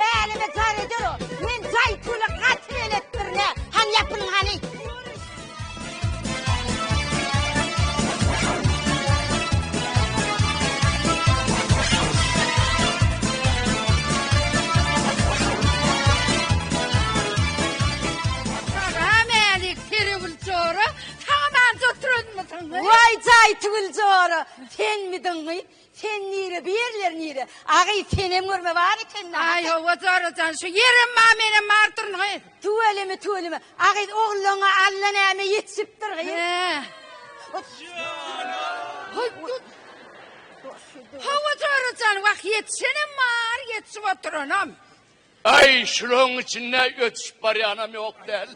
Bälimi jar eder o. Men jaý pula gaty belet birine. Hany ýapylyň hany. Salam älik Tirewül jora, saňa mant oturanmysyň? Waý jaý Tiwil jora, senmidiňňi? Sen nire bu yerler nire. Agy senem görme bar ekeni. Aý howa zorrajan şu ýerem bar menem bar duryn gyz. Tüweleme tüweleme agyz ogluňa alla näme ýetişipdir gyz. Howa zorrajan wah ýetişenem bar ýetişip oturanam. Aý, şulaň içinde ötüşip barýanam ýok däl.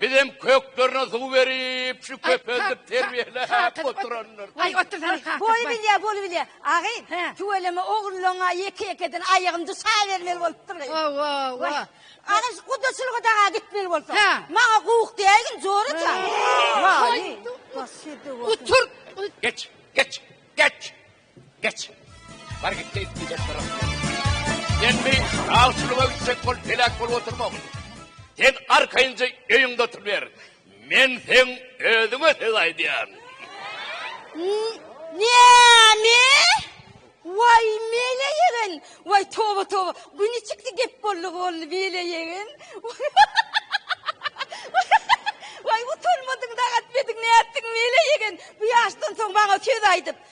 Bizem köklerine suw berip, şu köpeldip terbiýeläp oturandyr. Aý, otursana kakasy. Bolubilýär, bolubilýär. Agyn, tüweleme ogrullaryňa ýeke-ýekeden aýagym düşäbermeli bolupdyr. Hawa-wa. Agyn, şu gudaçylyga daga gitmeli bolsaň. Maňa gowuk däýgin, joraja. Haý, başydyr. Oturt. Geç, geç, geç. Geç. Bar git geýip gidip dur. Sen bir awçylyga gitjek bol, pelak bolup oturma. Sen arkaýynja öýüňde oturyber. Men seň özüňe söz aýdýan. Näme? Waý, mele ýegen. Waý, toba, toba. Güni çykdy gep boldy, boldy, mele ýegen. Waý, utanmadyň, dagat bediň, nätdiň, mele ýegen. Bu ýaşdan soň maňa söz aýdyp.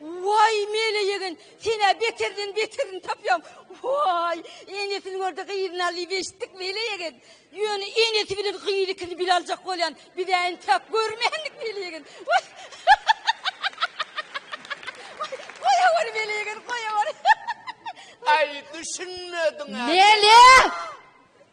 Waý, Mele ýegen, sen-ä beterden beterini tapýaň. Waý, enesiniň orda gyzyny al diýip eşitdik Mele ýegen. Ýöne enesi bilen gyzy ikisini bile aljak bolýan. Biz-ä entäk görmändik Mele ýegen. Goýaweri Mele ýegen, goýaweri. Aý, düşünmedim-ä. Mele!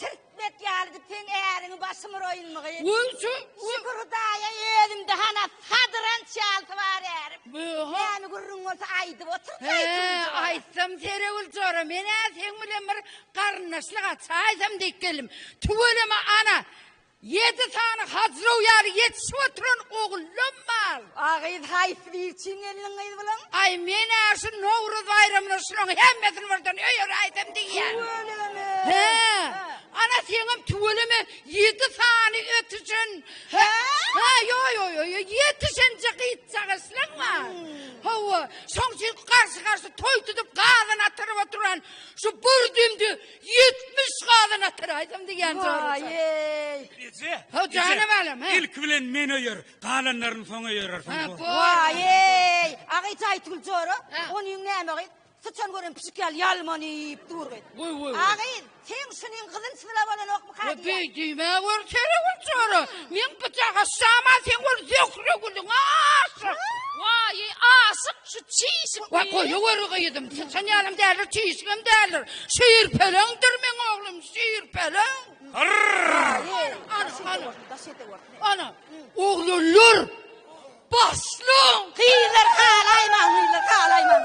Sirtmek ýalydy seň äriňi başym uraýynmygy. Wowsu. Şükür Hudaýa özümde hana sadranç ýalysy bar ärim. Wowha. Näme gürrüň bolsa aýdyp otur He, aýtsam Seregül jora men-ä seň bilen bir garyndaşlyk açaýsam diýip geldim. Tüweleme ana. Ýedi sany hajrow ýaly ýetişip oturan ogullam bar. A gyz haýsy biri üçin gelniň gyz bulan? Aý, men-ä şu Nowruz baýramyna şulaň hemmesini birden öýeräýsem diýýän. Tüweleme! Hä. Ana, seňem tüweleme, ýedi sany ötüşen. Hä? Hä, ýo-ýo-ýo-ýo, ýetişenje gyzjak isleň bar. Hawa, şoň üçin garşy-garşy toý tutup gazan atyryp oturan şu bir düýmdi Ýetmiş gazan atar aýdym diýýän zorluja. Waýeý. Eje. Ho jana balam he. Ilki bilen men öýer, galanlaryny soň öýerersiň. Ha, bu. Waýeý. Agyt Aýtgül jora, Ha. onyň näme gyz? Syçan gören pişik ýaly ýalmanyp dur gyz. Woý, woý, woý. Agyz, seň şunyň gyzylçyzyla bolanok. Bu düýme gör kere gör çora. Men bu jaga şama sen gör zöhre gülüň aşyk. Waýy aşyk şu çişik. Wa goýa gör gyýdym. Sen ýalym däldir çişigim däldir. Şeýr peleňdir men oglum şeýr peleň. Ana oglanlar. Başlaň. Gyýlar halaýmaň gyýlar halaýmaň.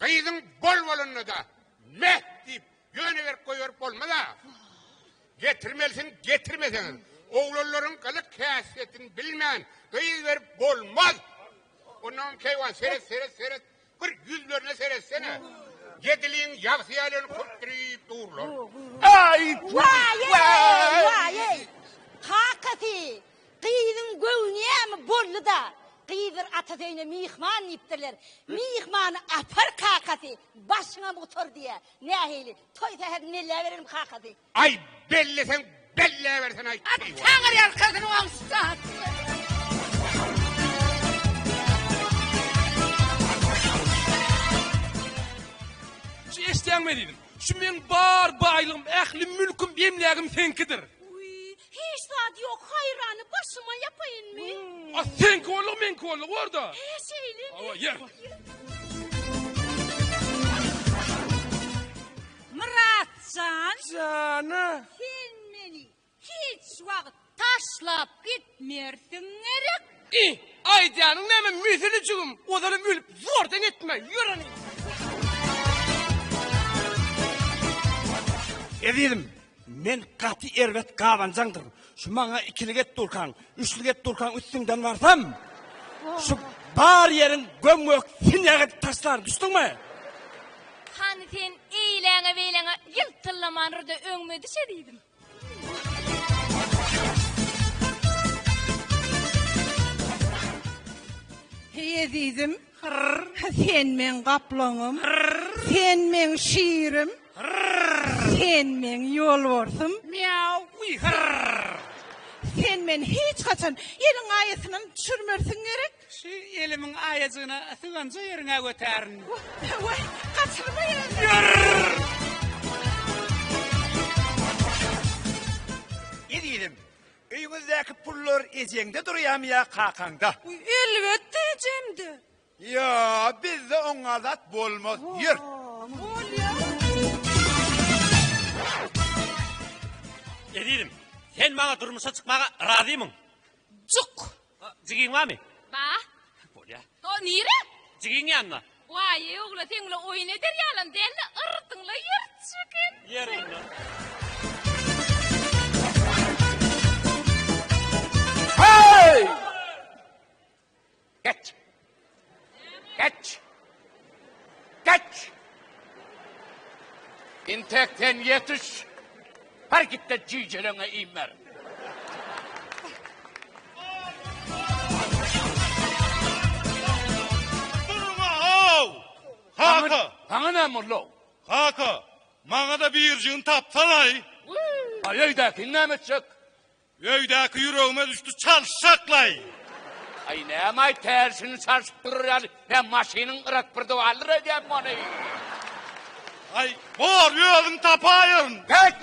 Gyzyň bol bolanda-da meh diýip ýöne berip goýberip bolmaz-a. Getirmelisiň, getirmeseňiz. Oglanlaryň gylyk-häsiýetini bilmän gyz berip bolmaz. Onam keýwan seret, seret, seret. Bir ýüzlerine seretsene. Ýediliň ýagty ýalyny köpdürip durlar. Aý! Waý-eý! Waý-eý! Kakasy! Gyzyň göwni ýaňy boldy-da, gyzlar atasy öýüne myhman diýipdirler. Myhmany apar kakasy, başyňam gutar diýýär. Nähili, toý sähedini belläberelim kakasy. Aý, belleseň belläbersene-aý, keýwat! Taňry ýalkasyn oň şypasyny! Şu eşidýäňmi diýdim. Şu meň bar baýlygym, ähli mülküm, emlägim seňkidir. Uý, Hiç zat ýok haýrany başyma ýapaýynmy. A seňki bolug meňki bolug borda. He şeýlemi. Hawa ýer. Jan. Jana. Sen meni hiç wagt taşlap gitmersiň gerek. I, aýdýanyň näme müsüli jigim, ozalam ölüp zordan etme, ýöreni. Ezizim, Men gaty erbet gabanjaňdyr. Şu maňa ikilik et durkaň, üçlik et durkaň üstüňden barsam, şu bar ýeriň göm-gök sinýag edip taşlaryn, düşdüňmi? Hany sen eýleňe-beýleňe ýyltyllamanrda öňüme düşe diýdim. Heý ezizim, Hyrr, sen meň gaplaňym. Hyrr, sen meň şirim. Hyrr, sen meň ýolbarsym. Mýaw, uý, hyrr. Sen meni hiç haçan eliň aýasyndan düşürmersiň gerek? Şu elimiň aýajygyny syganja ýeriňe götärin. Wah, waý, gaçyrmaý özi. Ýyrr! Ezizim, Öýüňizdäki pullar ejeňde durýamy ýa kakaňda? Elbetde ejemde. Ýa bizde oňňa zat bolmaz ýör. Ezizim, sen maňa durmuşa çykmaga razymyň? Juk. A, jigiň barmy? Bar. Bolýa. O nire? Jigiň ýanyna. Waý-eý ogla seň bilen oýun eder ýalam dälde yrdyňla ýyrtyş eken. Ýer onda. Heý! Get! Geç! Geç! Intek sen ýetiş! Her gitde jüýjeleňe iým ber! Durma-ow! Kaka! Saňa näme boldy-ow? Kaka, maňa-da birjigini tapsana-aý! Aý öýdäkini näme etjek? Öýdäki ýüregime düşdi çalşaklaý. Aý nämaý tärsini çalşyp durur ýaly men maşynyň gyrak bir dywaldyr öýdýän mony. Aý bor özüň tapaýyn. Geç!